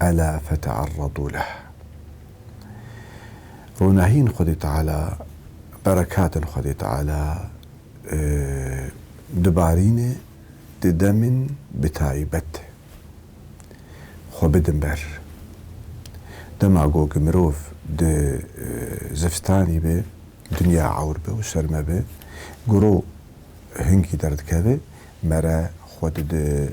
ela fete'erredû leh. Ronahîn Xwedê Teala, berekatên Xwedê Teala dibarîne di demên bi taybet de. Xwe bidin ber. Dema ku ku mirov di zivstanî be, dinya ewr be û serme be, guro hingî derdikeve, mere xwe dide.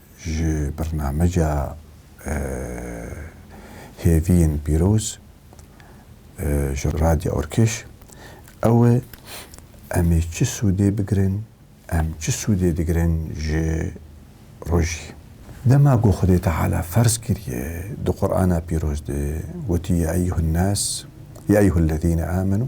Ji birnameca Hêviyên Pîroz ji Radya Orkeş ew e, Em ê çi sûdê bigirin, em çi sûdê digirin ji rojî? Dema ku Xwedê Teala ferz kiriye di Qur'ana Pîroz de gotî, Yâ eyyuhennâs, Yâ eyyuhellezîne âmenû,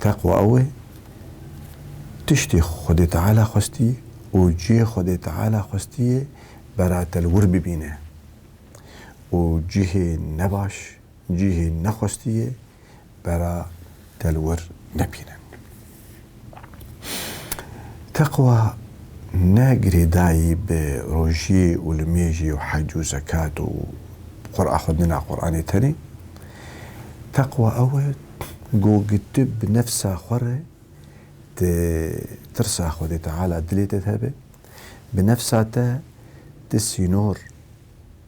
Teqwa ew e tiştê Xwedê Teala xwestî û cihê Xwedê Teala xwestiyê beratel wir bibîne û cihê nebaş, cihê nexwestiyê beratel wir nebîne. Teqwa ne girêdayî bi rojiyê û limêjê û hec û zekat û Qur'a xwendina Qur'anê tenê. Teqwa ew e ku gi tu bi nefsa xwe re ti tirsa Xwedê Teala dilê te de be, bi nefsa te ti sînor,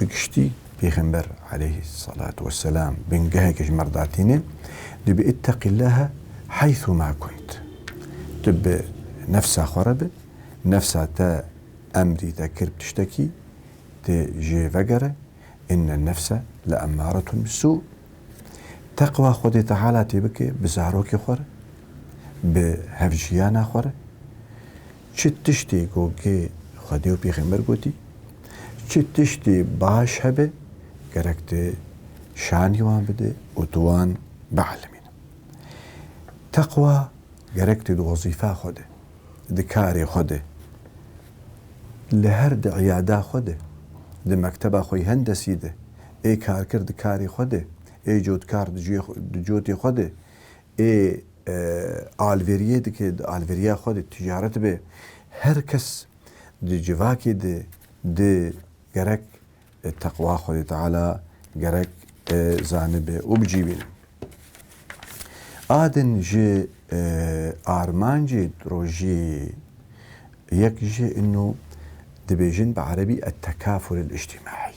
Bi giştî Pêxember aleyhî selat we selam bingeheke ji merda tîne, dibê itteqîllaha heythû ma kunt. Tu bi nefsa xwe re be, nefsa te emrî te kir bi tiştekî, tu jê vegere, inne nefse leemmaretun bisû. Teqwa Xwedê Teala tê bike bi zarokê xwe re, bi hevjiyana xwe re. Çi tiştê ku gê Xwedê û Pêxember gotî, çi tiştê baş hebe gerek tu şanî wan bide û tu wan bielimîne. Teqwa gerek tu di wezîfa xwe de, di karê xwe de, li her di îyada xwe de, di mekteba xwe yê hendesî de, ê karkir di karê xwe de, ê cotkar di cotê xwe de, Ê alveriyê dike, di alveriya xwe de ticaret be. Her kes di civakê de di gerek teqwa Xwedê Teala gerek zanibe û bicîvîne. A din ji armancê rojiyê yê yek jî ino dibêjin bi erebî Ettekaful Elîctîmaî,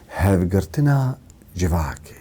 hevgirtina civakê,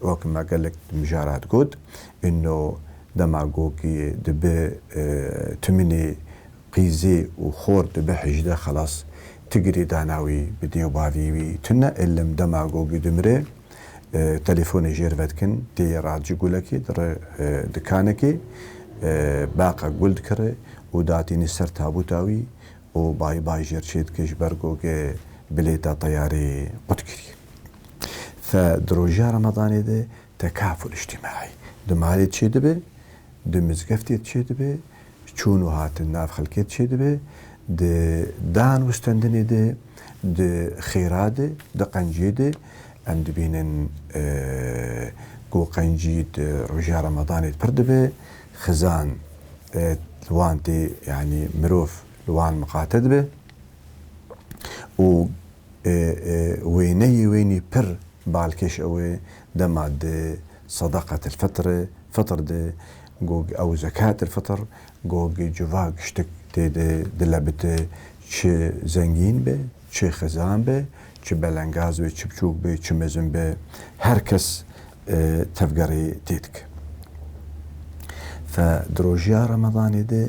Wek me gelek mijaran got, îno demagogî dibe timînê qîzê û xor dibe hijde xelas. Ti girê dana wî, bi dê û bavî wî tu ne îlim demagogî dimire. Telefone jêr vedikin, têye ra ci gulekê dire dikanekê. Baqa gul dikire û datîne ser tabûta wî û bay bay jêr çêdike ji ber goge bilêta teyareyê qut kirî. Fe di roja Ramadanê de tekaful îctîmaî di malê çêdibe, di mizgeftê de çêdibe, çûn û hatin nav xelkê de çêdibe, di dan û wistendinê de, di xêra de, di qencê de. Em dibînin ku qencî di roja Ramadanê de pir dibe. Xizan li wan tê yanî mirov li wan miqate dibe û Wêneyê wênî pir balkêş ew e, dema di Sadaqat el-Fitr e, fitr de gog ew Zekat el-Fitr gog civak ştik tê de dile bite, çi zengîn be, çi xizan be, çi belengaz be, çi biçûk be, çi mezin be, her kes tevgerê tê dike. Fe di rojiya Ramadanê de